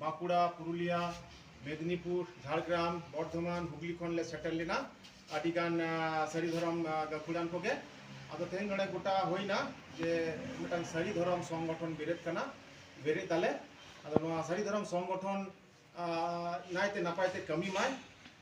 ᱵᱟᱸᱠᱩᱲᱟ ᱯᱩᱨᱩᱞᱤᱭᱟ ᱢᱮᱫᱽᱱᱤᱯᱩᱨ ᱡᱷᱟᱲᱜᱨᱟᱢ ᱵᱚᱨᱫᱷᱚᱢᱟᱱ ᱦᱩᱜᱽᱞᱤ ᱠᱷᱚᱱ ᱞᱮ ᱥᱮᱴᱮᱨ ᱞᱮᱱᱟ ᱟᱹᱰᱤ ᱜᱟᱱ ᱥᱟᱹᱨᱤ ᱫᱷᱚᱨᱚᱢ ᱜᱟᱹᱠᱷᱩᱲᱟᱱ ᱠᱚᱜᱮ ᱟᱫᱚ ᱛᱮᱦᱮᱧ ᱱᱚᱰᱮ ᱜᱚᱴᱟ ᱦᱩᱭᱱᱟ ᱡᱮ ᱢᱤᱫᱴᱟᱝ ᱥᱟᱹᱨᱤ ᱫᱷᱚᱨᱚᱢ ᱥᱚᱝᱜᱚᱴᱷᱚᱱ ᱵᱮᱨᱮᱫ ᱠᱟᱱᱟ ᱵᱮᱨᱮᱫ ᱫᱟᱞᱮ ᱟᱫᱚ ᱱᱚᱣᱟ ᱥᱟᱹᱨᱤ ᱫᱷᱚᱨᱚᱢ ᱥᱚᱝᱜᱚᱴᱷᱚᱱ ᱱᱟᱭᱛᱮ ᱱᱟᱯᱟᱭ ᱛᱮ ᱠᱟᱹᱢᱤ ᱢᱟᱭ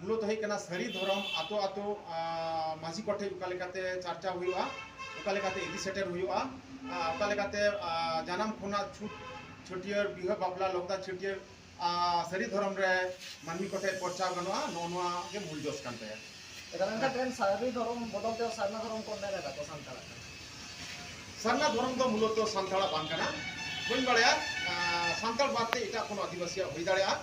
ᱢᱩᱞᱚ ᱫᱚ ᱦᱩᱭᱩᱜ ᱠᱟᱱᱟ ᱥᱟᱹᱨᱤ ᱫᱷᱚᱨᱚᱢ ᱟᱛᱳ ᱟᱛᱳ ᱢᱟᱹᱡᱷᱤ ᱠᱚ ᱴᱷᱮᱱ ᱚᱠᱟ ᱞᱮᱠᱟᱛᱮ ᱪᱟᱨᱪᱟᱣ ᱦᱩᱭᱩᱜᱼᱟ ᱚᱠᱟ ᱞᱮᱠᱟᱛᱮ ᱤᱫᱤ ᱥᱮᱴᱮᱨ ᱦᱩᱭᱩᱜᱼᱟ ᱚᱠᱟ ᱞᱮᱠᱟᱛᱮ ᱡᱟᱱᱟᱢ ᱠᱷᱚᱱᱟᱜ ᱪᱷᱩᱴ ᱪᱷᱟᱹᱴᱭᱟᱹᱨ ᱵᱤᱦᱟᱹ ᱵᱟᱯᱞᱟ ᱞᱚᱜᱫᱟ ᱪᱷᱟᱹᱴᱭᱟᱹᱨ ᱥᱟᱹᱨᱤ ᱫᱷᱚᱨᱚᱢ ᱨᱮ ᱢᱟᱹᱱᱢᱤ ᱠᱚ ᱴᱷᱮᱱ ᱯᱚᱨᱪᱟᱣ ᱜᱟᱱᱚᱜᱼᱟ ᱱᱚᱜᱼᱚ ᱱᱚᱣᱟ ᱜᱮ ᱢᱩᱞ ᱡᱚᱥ ᱠᱟᱱ ᱛᱟᱭᱟ ᱮᱱᱠᱷᱟᱱ ᱛᱮᱦᱮᱧ ᱥᱟᱹᱨᱤ ᱫᱷᱚᱨᱚᱢ ᱵᱚᱫᱚᱞ ᱛᱮ ᱥᱟᱨᱱᱟ ᱫᱷᱚᱨᱚᱢ ᱠᱚ ᱢᱮᱱ ᱮᱫᱟ ᱠᱚ ᱥᱟᱱᱛᱟᱲᱟᱜ ᱥᱟᱨᱱᱟ ᱫᱷᱚᱨᱚᱢ ᱫᱚ ᱢᱩᱞᱚᱛ ᱥᱟᱱᱛᱟᱲᱟᱜ ᱵᱟᱝ ᱠᱟᱱᱟ ᱵᱟᱹᱧ ᱵᱟᱲᱟᱭᱟ ᱥᱟᱱᱛᱟᱲ ᱵᱟᱫ ᱛᱮ ᱮᱴᱟᱜ ᱠᱳᱱᱳ ᱟᱹᱫᱤᱵᱟᱹᱥᱤᱭᱟᱜ ᱦᱩᱭ ᱫᱟᱲᱮᱭᱟᱜᱼᱟ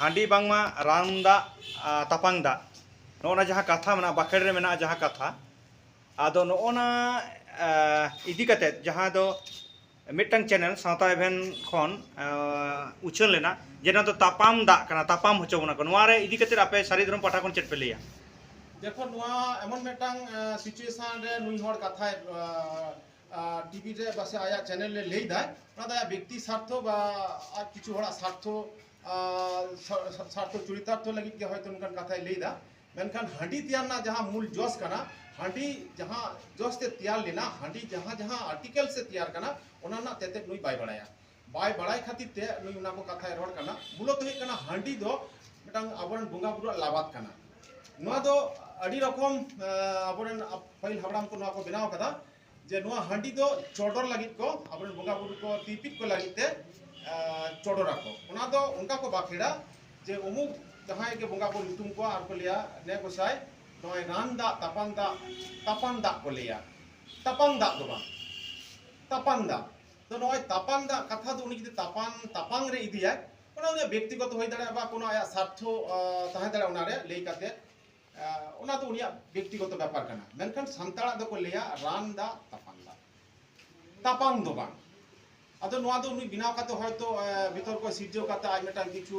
ᱦᱟᱺᱰᱤ ᱵᱟᱝᱢᱟ ᱨᱟᱱ ᱫᱟᱜ ᱛᱟᱯᱟᱝ ᱫᱟᱜ ᱱᱚᱜᱼᱚ ᱱᱟ ᱡᱟᱦᱟᱸ ᱠᱟᱛᱷᱟ ᱢᱮᱱᱟᱜᱼᱟ ᱵᱟᱠᱷᱮᱬ ᱨᱮ ᱢᱮᱱᱟᱜᱼᱟ ᱡᱟᱦᱟᱸ ᱠᱟᱛᱷᱟ ᱟᱫᱚ ᱱᱚᱜᱼᱚ ᱱᱟ ᱤᱫᱤ ᱠᱟᱛᱮ ᱡᱟᱦᱟᱸ ᱫᱚ ᱢᱤᱫᱴᱟᱝ ᱪᱮᱱᱮᱞ ᱥᱟᱶᱛᱟ ᱮᱵᱷᱮᱱ ᱠᱷᱚᱱ ᱩᱪᱷᱟᱹᱱ ᱞᱮᱱᱟ ᱡᱮ ᱱᱚᱣᱟ ᱫᱚ ᱛᱟᱯᱟᱢ ᱫᱟᱜ ᱠᱟᱱᱟ ᱛᱟᱯᱟᱢ ᱦᱚᱪᱚ ᱵᱚᱱᱟ ᱠᱚ ᱱᱚᱣᱟ ᱨᱮ ᱤᱫᱤ ᱠᱟᱛᱮ ᱟᱯᱮ ᱥᱟᱹᱨᱤ ᱫᱷᱚᱨᱚᱢ ᱯᱟᱦᱴᱟ ᱠᱷᱚᱱ ᱪᱮᱫ ᱯᱮ ᱞᱟᱹᱭᱟ ᱫᱮᱠᱷᱚ ᱱᱚᱣᱟ ᱮᱢᱚᱱ ᱢᱤᱫᱴᱟᱝ ᱥᱤᱪᱩᱭᱮᱥᱚᱱ ᱨᱮ ᱱᱩᱭ ᱦᱚᱲ ᱠᱟᱛᱷᱟᱭ ᱴᱤᱵᱷᱤ ᱨᱮ ᱵᱟᱥᱮ ᱟᱭᱟᱜ ᱪᱮᱱᱮᱞ ᱨᱮ ᱞᱟᱹᱭ ᱫᱟᱭ ᱚᱱᱟ ᱫᱚ ᱟᱭᱟᱜ ᱵᱮᱠᱛᱤ ᱥᱟᱨᱛᱷᱚ ᱵᱟ ᱟᱨ ᱠᱤᱪᱷᱩ ᱦᱚᱲᱟᱜ ᱥᱟᱨᱛᱷᱚ ᱥᱟᱨᱛᱷᱚ ᱪᱚᱨᱤᱛᱟᱨᱛᱷᱚ ᱞᱟᱹᱜᱤᱫ ᱜᱮ ᱦᱚᱭᱛᱚ ᱱᱚᱝᱠᱟᱱ ᱠᱟᱛᱷᱟᱭ ᱞᱟᱹᱭ ᱫᱟ ᱢᱮᱱᱠᱷᱟᱱ ᱦᱟᱺᱰᱤ ᱛᱮᱭᱟᱨ ᱨᱮᱱᱟᱜ ᱡᱟᱦᱟᱸ ᱢᱩᱞ ᱡᱚᱥ ᱠᱟᱱᱟ ᱦᱟᱺᱰᱤ ᱡᱟᱦᱟᱸ ᱡᱚᱥ ᱛᱮ ᱛᱮᱭᱟᱨ ᱞᱮᱱᱟ ᱦᱟᱺᱰᱤ ᱡᱟᱦᱟᱸ ᱡᱟᱦᱟᱸ ᱟᱨᱴᱤᱠᱮᱞ ᱥᱮ ᱛᱮᱭᱟᱨ ᱠᱟᱱᱟ ᱚᱱᱟ ᱨᱮᱱᱟᱜ ᱛᱮᱛᱮᱫ ᱱᱩᱭ ᱵᱟᱭ ᱵᱟᱲᱟᱭᱟ ᱵᱟᱭ ᱵᱟᱲᱟᱭ ᱠᱷᱟᱹᱛᱤᱨ ᱛᱮ ᱱᱩᱭ ᱚᱱᱟ ᱠᱚ ᱠᱟᱛᱷᱟᱭ ᱨᱚᱲ ᱠᱟᱱᱟ ᱢᱩᱞᱚᱛ ᱦᱩᱭᱩᱜ ᱠᱟᱱᱟ ᱦᱟᱺᱰᱤ ᱫᱚ ᱢᱤᱫᱴᱟᱝ ᱟᱵᱚᱨᱮᱱ ᱵᱚᱸᱜᱟ ᱵᱩᱨᱩᱣᱟᱜ ᱞᱟᱵᱟᱫ ᱠᱟᱱᱟ ᱱᱚᱣᱟ ᱫᱚ ᱟᱹᱰᱤ ᱨᱚᱠᱚᱢ ᱟᱵᱚᱨᱮᱱ ᱯᱟᱹᱦᱤᱞ ᱦᱟᱯᱲᱟᱢ ᱠᱚ ᱱᱚᱣᱟ ᱠᱚ ᱵᱮᱱᱟᱣ ᱠᱟᱫᱟ ᱡᱮ ᱱᱚᱣᱟ ᱦᱟᱺᱰᱤ ᱫᱚ ᱪᱚᱰᱚᱨ ᱞᱟᱹᱜᱤᱫ ᱠᱚ ᱟᱵᱚᱨᱮᱱ ᱵᱚᱸᱜᱟ ᱵᱩᱨᱩ ᱠᱚ ᱛᱤᱯᱤᱫ ᱠᱚ ᱞᱟᱹᱜᱤᱫ ᱛᱮ ᱪᱚᱰᱚᱨ ᱟᱠᱚ ᱚᱱᱟ ᱫᱚ ᱚᱱᱠᱟ ᱠᱚ ᱵᱟᱠᱷᱮᱲᱟ ᱡᱮ ᱩᱢᱩᱠ ᱡᱟᱦᱟᱸᱭ ᱜᱮ ᱵᱚᱸᱜᱟ ᱠᱚ ᱧᱩᱛᱩᱢ ᱠᱚᱣᱟ ᱟᱨ ᱠᱚ ᱞᱟᱹᱭᱟ ᱱᱮ ᱜᱚᱥᱟᱭ ᱱᱚᱜᱼᱚᱭ ᱨᱟᱱ ᱫᱟᱜ ᱛᱟᱯᱟᱱ ᱫᱟᱜ ᱛᱟᱯᱟᱱ ᱫᱟᱜ ᱠᱚ ᱞᱟᱹᱭᱟ ᱛᱟᱯᱟᱱ ᱫᱟᱜ ᱫᱚ ᱵᱟᱝ ᱛᱟᱯᱟᱱ ᱫᱟᱜ ᱛᱚ ᱱᱚᱜᱼᱚᱭ ᱛᱟᱯᱟᱢ ᱫᱟᱜ ᱠᱟᱛᱷᱟ ᱫᱚ ᱩᱱᱤ ᱡᱩᱫᱤ ᱛᱟᱯᱟᱢ ᱛᱟᱯᱟᱢ ᱨᱮ ᱤᱫᱤᱭᱟᱭ ᱚᱱᱟ ᱩᱱᱤᱭᱟᱜ ᱵᱮᱠᱛᱤᱜᱚᱛᱚ ᱦᱩᱭ ᱫᱟᱲᱮᱭᱟᱜᱼᱟ ᱵᱟ ᱠᱳᱱᱳ ᱟᱭᱟᱜ ᱥᱟᱨᱛᱷᱚ ᱛᱟᱦᱮᱸ ᱫᱟᱲᱮᱭᱟᱜᱼᱟ ᱚᱱᱟᱨᱮ ᱞᱟᱹᱭ ᱠᱟᱛᱮ ᱚᱱᱟ ᱫᱚ ᱩᱱᱤᱭᱟᱜ ᱵᱮᱠᱛᱤᱜᱚᱛᱚ ᱵᱮᱯᱟᱨ ᱠᱟᱱᱟ ᱢᱮᱱᱠᱷᱟᱱ ᱥᱟᱱᱛᱟᱲᱟᱜ ᱫᱚᱠᱚ ᱞᱟᱹᱭᱟ ᱨᱟᱱ ᱫᱟᱜ ᱛᱟᱯᱟᱢ ᱫᱟᱜ ᱛᱟᱯᱟᱢ ᱫᱚ ᱵᱟᱝ ᱟᱫᱚ ᱱᱚᱣᱟ ᱫᱚ ᱩᱱᱤ ᱵᱮᱱᱟᱣ ᱠᱟᱛᱮ ᱦᱚᱭᱛᱚ ᱵᱤᱛᱚᱨᱠᱚ ᱥᱤᱨᱡᱟᱹᱣ ᱠᱟᱛᱮ ᱟᱡ ᱢᱤᱫᱴᱟᱝ ᱠᱤᱪᱷᱩ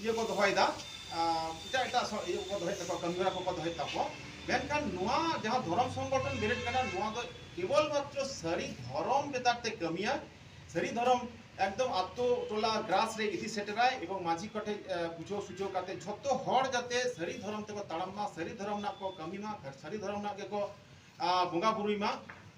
ᱤᱭᱟᱹ ᱠᱚ ᱫᱚᱦᱚᱭᱮᱫᱟ ᱮᱴᱟᱜ ᱮᱴᱟᱜ ᱤᱭᱟᱹ ᱠᱚᱠᱚ ᱫᱚᱦᱚᱭᱮᱫ ᱛᱟᱠᱚᱣᱟ ᱠᱟᱹᱢᱤ ᱦᱚᱨᱟ ᱠᱚᱠᱚ ᱫᱚᱦᱚᱭᱮᱫ ᱛᱟᱠᱚᱣᱟ ᱢᱮᱱᱠᱷᱟᱱ ᱱᱚᱣᱟ ᱡᱟᱦᱟᱸ ᱫᱷᱚᱨᱚᱢ ᱥᱚᱝᱜᱚᱴᱷᱚᱱ ᱵᱮᱨᱮᱫ ᱠᱟᱱᱟ ᱱᱚᱣᱟ ᱫᱚ ᱠᱮᱵᱚᱞ ᱢᱟᱛᱨᱚ ᱥᱟᱹᱨᱤ ᱫᱷᱚᱨᱚᱢ ᱵᱮᱫᱟᱨ ᱛᱮ ᱠᱟᱹᱢᱤᱭᱟ ᱥᱟᱹᱨᱤ ᱫᱷᱚᱨᱚᱢ ᱮᱠᱫᱚᱢ ᱟᱛᱳ ᱴᱚᱞᱟ ᱜᱨᱟᱥ ᱨᱮ ᱤᱫᱤ ᱥᱮᱴᱮᱨᱟᱭ ᱮᱵᱚᱝ ᱢᱟᱹᱡᱷᱤ ᱠᱚᱴᱷᱮ ᱵᱩᱡᱷᱟᱹᱣ ᱥᱩᱡᱷᱟᱹᱣ ᱠᱟᱛᱮ ᱡᱷᱚᱛᱚ ᱦᱚᱲ ᱡᱟᱛᱮ ᱥᱟᱹᱨᱤ ᱫᱷᱚᱨᱚᱢ ᱛᱮᱠᱚ ᱛᱟᱲᱟᱢ ᱢᱟ ᱥᱟᱹᱨᱤ ᱫᱷᱚᱨᱚᱢ ᱨᱮᱱᱟᱜ ᱠᱚ ᱠᱟᱹᱢᱤ ᱢᱟ ᱥᱟᱹᱨᱤ ᱫᱷᱚᱨᱚᱢ ᱨᱮᱱᱟᱜ ᱜᱮᱠᱚ ᱵᱚᱸᱜᱟ ᱵᱩᱨᱩᱭ ᱢᱟ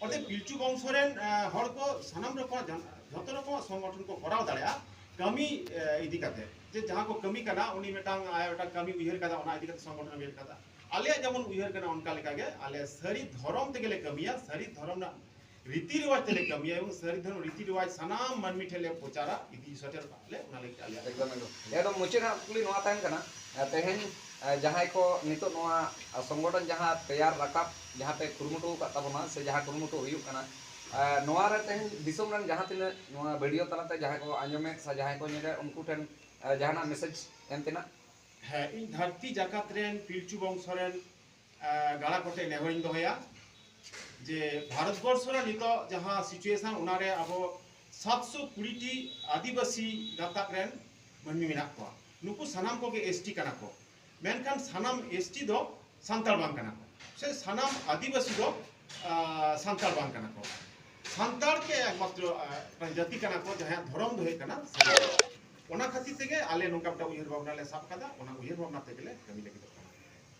ᱚᱸᱰᱮ ᱯᱤᱞᱪᱩ ᱵᱚᱝᱥᱚ ᱨᱮᱱ ᱦᱚᱲ ᱠᱚ ᱥᱟᱱᱟᱢ ᱨᱚᱠᱚᱢ ᱡᱚᱛᱚ ᱨᱚᱠᱚᱢ ᱥᱚᱝᱜᱚᱴᱷᱚᱱ ᱠᱚ ᱠᱚᱨᱟᱣ ᱫᱟᱲᱮᱭᱟᱜᱼᱟ ᱠᱟᱹᱢᱤ ᱤᱫᱤ ᱠᱟᱛᱮ ᱡᱮ ᱡᱟᱦᱟᱸ ᱠᱚ ᱠᱟᱹᱢᱤ ᱠᱟᱱᱟ ᱩᱱᱤ ᱢᱤᱫᱴᱟᱝ ᱟᱭ ᱢᱤᱫᱴᱟᱝ ᱠᱟᱹᱢᱤ ᱩᱭᱦᱟᱹᱨ ᱠᱟᱫᱟ ᱚᱱᱟ ᱤᱫᱤ ᱠᱟᱛᱮ ᱥᱚᱝᱜᱚᱴᱷᱚᱱ ᱩᱭᱦᱟᱹᱨ ᱠᱟᱫᱟ ᱟᱞᱮᱭᱟᱜ ᱡᱮᱢᱚᱱ ᱩᱭᱦᱟᱹᱨ ᱠᱟᱱᱟ ᱚᱱᱠᱟ ᱞᱮᱠᱟ ᱜᱮ ᱟᱞᱮ ᱥᱟᱹᱨᱤ ᱫᱷᱚᱨᱚᱢ ᱛᱮᱜᱮ ᱞᱮ ᱠᱟᱹᱢᱤᱭᱟ ᱥᱟᱹᱨᱤ ᱫᱷᱚᱨᱚᱢ ᱨᱮᱱᱟᱜ ᱨᱤᱛᱤ ᱨᱮᱣᱟᱡᱽ ᱛᱮᱞᱮ ᱠᱟᱹᱢᱤᱭᱟ ᱮᱵᱚᱝ ᱥᱟᱹᱨᱤ ᱫᱷᱚᱨᱚᱢ ᱨᱤᱛᱤ ᱨᱮᱣᱟᱡᱽ ᱥᱟᱱᱟᱢ ᱢᱟᱹᱱᱢᱤ ᱴᱷᱮᱱ ᱞᱮ ᱯᱨᱚᱪᱟᱨᱟ ᱤᱫᱤ ᱥᱮᱴᱮᱨᱚᱜᱼᱟ ᱮᱠᱫᱚᱢ ᱢᱩᱪᱟᱹᱫ ᱦᱟᱸᱜ ᱠᱩᱠᱞᱤ ᱱᱚᱣᱟ ᱛᱟᱦᱮᱱ ᱠᱟᱱᱟ ᱛᱮᱦᱮᱧ ᱡᱟᱦᱟᱸᱭ ᱠᱚ ᱱᱤᱛᱚᱜ ᱱᱚᱣᱟ ᱥᱚᱝᱜᱚᱴᱷᱚᱱ ᱡᱟᱦᱟᱸ ᱛᱮᱭᱟᱨ ᱨᱟᱠᱟᱵ ᱡᱟᱦᱟᱸ ᱯᱮ ᱠᱩᱨᱩᱢᱩᱴᱩ ᱟᱠᱟᱫ ᱛᱟᱵᱚᱱᱟ ᱥᱮ ᱡᱟᱦᱟᱸ ᱠᱩᱨᱩᱢᱩᱴᱩ ᱦᱩᱭᱩᱜ ᱠᱟᱱᱟ ᱱᱚᱣᱟ ᱨᱮ ᱛᱮᱦᱮᱧ ᱫᱤᱥᱚᱢ ᱨᱮᱱ ᱡᱟᱦᱟᱸ ᱛᱤᱱᱟᱹᱜ ᱱᱚᱣᱟ ᱵᱷᱤᱰᱤᱭᱳ ᱛᱟᱞᱟᱛᱮ ᱡᱟᱦᱟᱸᱭ ᱠᱚ ᱟᱸᱡᱚᱢᱮᱫ ᱥᱮ ᱡᱟᱦᱟᱸᱭ ᱠᱚ ᱧᱮᱞᱮᱫ ᱩᱱᱠᱩ ᱴᱷᱮᱱ ᱡᱟᱦᱟᱱᱟᱜ ᱢᱮᱥᱮᱡᱽ ᱮᱢ ᱛᱮᱱᱟᱜ ᱦᱮᱸ ᱤᱧ ᱫᱷᱟᱹᱨᱛᱤ ᱡᱟᱠᱟᱛ ᱨᱮᱱ ᱯᱤᱞᱪᱩ ᱵᱚᱝᱥᱚ ᱨᱮᱱ ᱜᱟᱬᱟ ᱠᱚᱴᱮ ᱱᱮᱦᱚᱨᱤᱧ ᱫᱚᱦᱚᱭᱟ ᱡᱮ ᱵᱷᱟᱨᱚᱛ ᱵᱚᱨᱥᱚ ᱨᱮ ᱱᱤᱛᱚᱜ ᱡᱟᱦᱟᱸ ᱥᱤᱪᱩᱭᱮᱥᱚᱱ ᱚᱱᱟ ᱨᱮ ᱟᱵᱚ ᱥᱟᱛᱥᱚ ᱠᱩᱲᱤ ᱴᱤ ᱟᱹᱫᱤᱵᱟᱹᱥᱤ ᱜᱟᱛᱟᱠ ᱨᱮᱱ ᱢᱟᱹᱱᱢᱤ ᱢᱮᱱᱟᱜ ᱠᱚᱣᱟ ᱱᱩᱠᱩ ᱥᱟᱱᱟᱢ ᱠᱚᱜᱮ ᱮᱥ ᱴᱤ ᱠᱟᱱᱟ ᱠᱚ ᱢᱮᱱᱠᱷᱟᱱ ᱥᱟᱱᱟᱢ ᱮᱥ ᱴᱤ ᱫᱚ ᱥᱟᱱᱛᱟᱲ ᱵᱟᱝ ᱠᱟᱱᱟ ᱠᱚ ᱥᱮ ᱥᱟᱱᱟᱢ ᱟᱹᱫᱤᱵᱟᱹᱥᱤ ᱫᱚ ᱥᱟᱱᱛᱟᱲ ᱵᱟᱝ ᱠᱟᱱᱟ ᱠᱚ ᱥᱟᱱᱛᱟᱲ ᱜᱮ ᱮᱠᱢᱟᱛᱨᱚ ᱡᱟᱹᱛᱤ ᱠᱟᱱᱟ ᱠᱚ ᱡᱟᱦᱟᱸᱭᱟᱜ ᱫᱷᱚᱨᱚᱢ ᱫᱚ ᱦᱩᱭᱩᱜ ᱠᱟᱱᱟ ᱚᱱᱟ ᱠᱷᱟᱹᱛᱤᱨ ᱛᱮᱜᱮ ᱟᱞᱮ ᱱᱚᱝᱠᱟ ᱢᱤᱫᱴᱟᱝ ᱩᱭᱦᱟᱹᱨ ᱵᱷᱟᱵᱽᱱᱟ ᱞᱮ ᱥᱟᱵ ᱠᱟᱫᱟ ᱚᱱᱟ ᱩᱭᱦᱟᱹᱨ ᱵᱷᱟᱵᱽᱱᱟ ᱛᱮᱜᱮ ᱞᱮ ᱠᱟᱹᱢᱤ ᱞᱟᱹᱜᱤᱫᱚᱜ ᱠᱟᱱᱟ